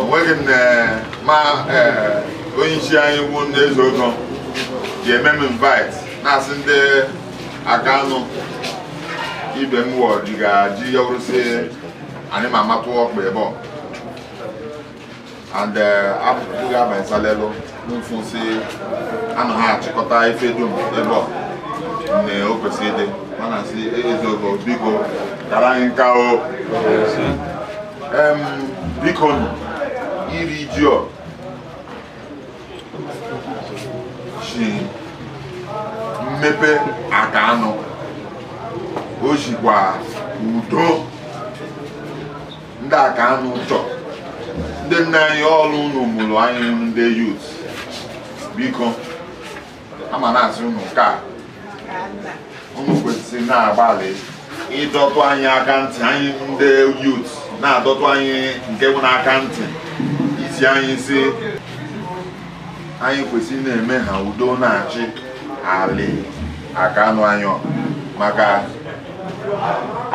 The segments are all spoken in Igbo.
onweghị m ma onye isi anyị wu ndị eze ụzọ ga-eme m invite na-asị ndị Akanu ibe m wọ ji ga-ji ya wụrụsị anyị ma amatụ ọkpa ebe ọ and abụghị abanye salelụ mfu si anụ ha achịkọta ife dum ebe ọ na o kwesịrị ịdị mana si eze ogo biko kara anyị nka o biko iri ji ọ si mmepe Akanu o sikwa udo ndị Akanu chọ ndị nna anyị ọ wụ unu mụrụ anyị wụ ndị yut biko ama na-asị unu ka unu kwesịrị na-agbalị ịdọtụ anyị aka ntị anyị ndị yut na-adọtụ anyị nke bụ n'aka ntị isi anyị si anyị kwesịrị na-eme ha udo na-achị alị Akanu anyị ọ. maka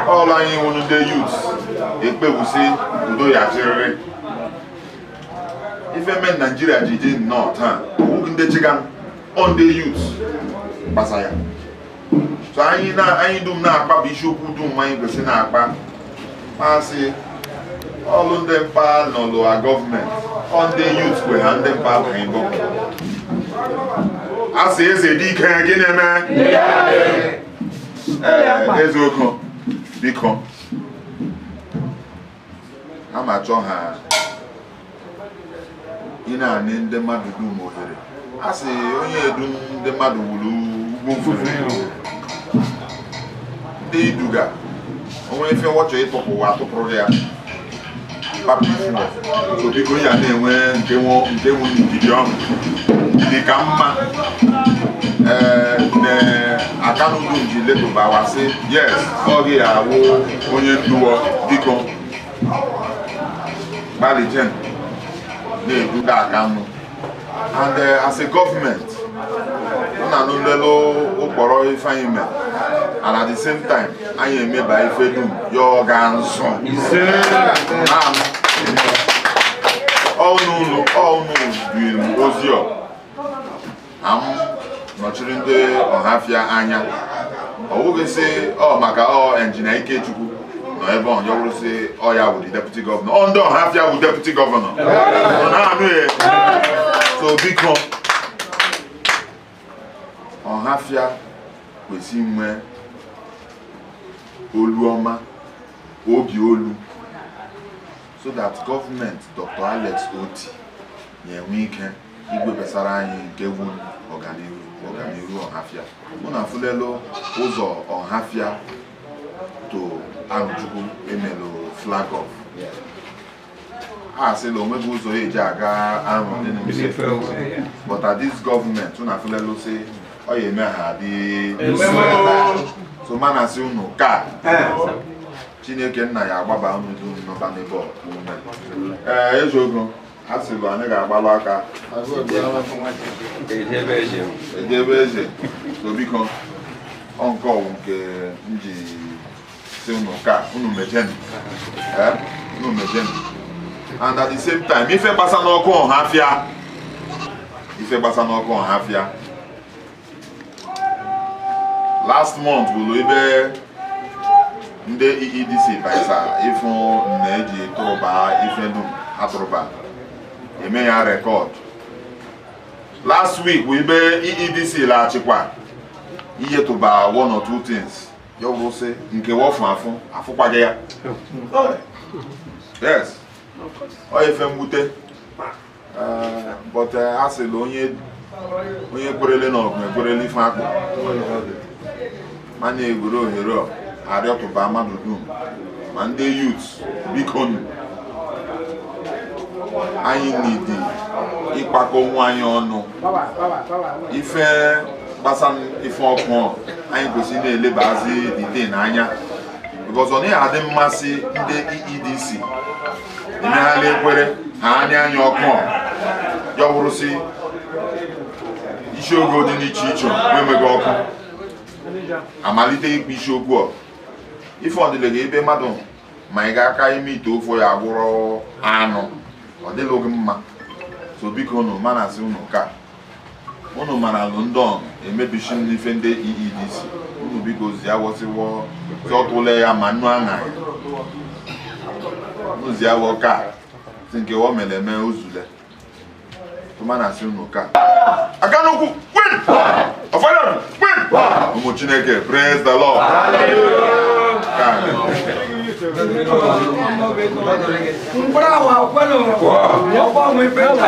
ọ wụ anyị wụ ndị yut ekpewusi udo ya chịrịrị ife mere naijiria ji dị nnọọ taa ọwụghị ndị chigan ọ ndị yut gbasa ya so anyị na anyị dum na-akpa bụ isiokwu dum anyị kwesịrị na-akpa masị ọlụ ndị mkpa nọlụ a gọọmenti ọ ndị yut kwe ha ndị mkpa bụ anyị gọọmenti asị eze dị ike gị na-eme ee eze ogo biko a ma chọọ ha ị na-anị ndị mmadụ dum ohere a sị onye edu ndị mmadụ wuru ugwu mfufe ndị iduga o nwee ife wọ chọ ịtụpụ wa atụpụrụ ya papa ifụọ so biko ya na-enwe nke nwe nke nwe ndidi ọnụ dị ka mma ee na Akanu dum ji letụbawasị yes ọ gị awụ onye ndu wọ biko gbalite na-eduga Akanu and eh, as a gọọmenti ọ na-anụ nlele ụkpọrọ ife anyị mere and at the same time anyị emeba ife dum ya ọ ga nzụ na-anụ ọnụ ụlọ ọnụ ụlọ ozi ọ na m nọchiri ndị ọhafịa anya ọ wụghị sị ọ maka ọ Engineer Ikechukwu nọ ebe ọ ya wụrụsị ọ ya wụ deputy governor ọ ndị ọhafịa wụ deputy governor ọ na-anụ ya so biko ọhafịa kwesị inwe olu ọma obi olu so that government Dr. Alex Otti ya-enwe ike igwe besara anyị nke wụ ọganihu ọganihu ọhafịa unu afụlelu ụzọ ọhafịa to Arọchukwu emelu flag off a sịla onweghị ụzọ eji aga Arọ dị mfe but at this government unu afụlelu sị ọ ya eme ha dị so m na-asị unu ka chineke nna ya agbaba unu dum nọba n'ebe ọ ume. Ee, eze ogo a sịla anaghị agbalụ aka eje be eze eje be eze so biko ọ nke ọwụ nke m ji sị unu ka unu mejeni eh, unu mejeni and at the same time ife gbasa n'ọkụ ọhafịa ife gbasa n'ọkụ ọhafịa last month bụrụ ibe ndị EEDC baisa ịfụ na eji tụrụba ife dum ha tụrụba eme ya record last week bụ ibe EEDC laghachikwa ihe tụba one or two things ya wụrụ sị nke wọ fụ afụ afụkwaghị ya yes ọ ife mwute but eh, a sịla onye onye kwerele na ọgụ ekwerele ife akpụ m na-egwere ohere ọ arịọtụba mmadụ dum ma ndị youth biko nụ anyị need ịkpakọ onwe anyị ọnụ ife gbasa ife ọkụ ọ, anyị kwesịrị na-elebazi dite n'anya because ọ naghị adị mma sị ndị EEDC imehala ekwere ha anya anya ọkụ ọha ya wụrụsị isi ogo dị n'iche iche na-enweghị ọkụ amalite ikpe isi okwu ọ ife ọdịle gị ibe mmadụ manye aka ime ite ofe ya gwụrụ anụ ọ dịlụghị mma so biko unu m na-asị unu ka unu mara alụ ndị ọnụ emebichi ndị ife ndị EEDC unu biko zia wọ sị wọ tụọtụle ya ma nnu aṅa ya unu zia wọ ka si nke ọ mere eme ozule tụma na asị unu ka aka n'ụkwụ win ọfọdụ win ụmụ chineke praise the lord ka Mkpụrụ ahụ akwụkwọ na ụwa. Ọkwa ọmụ ife nta.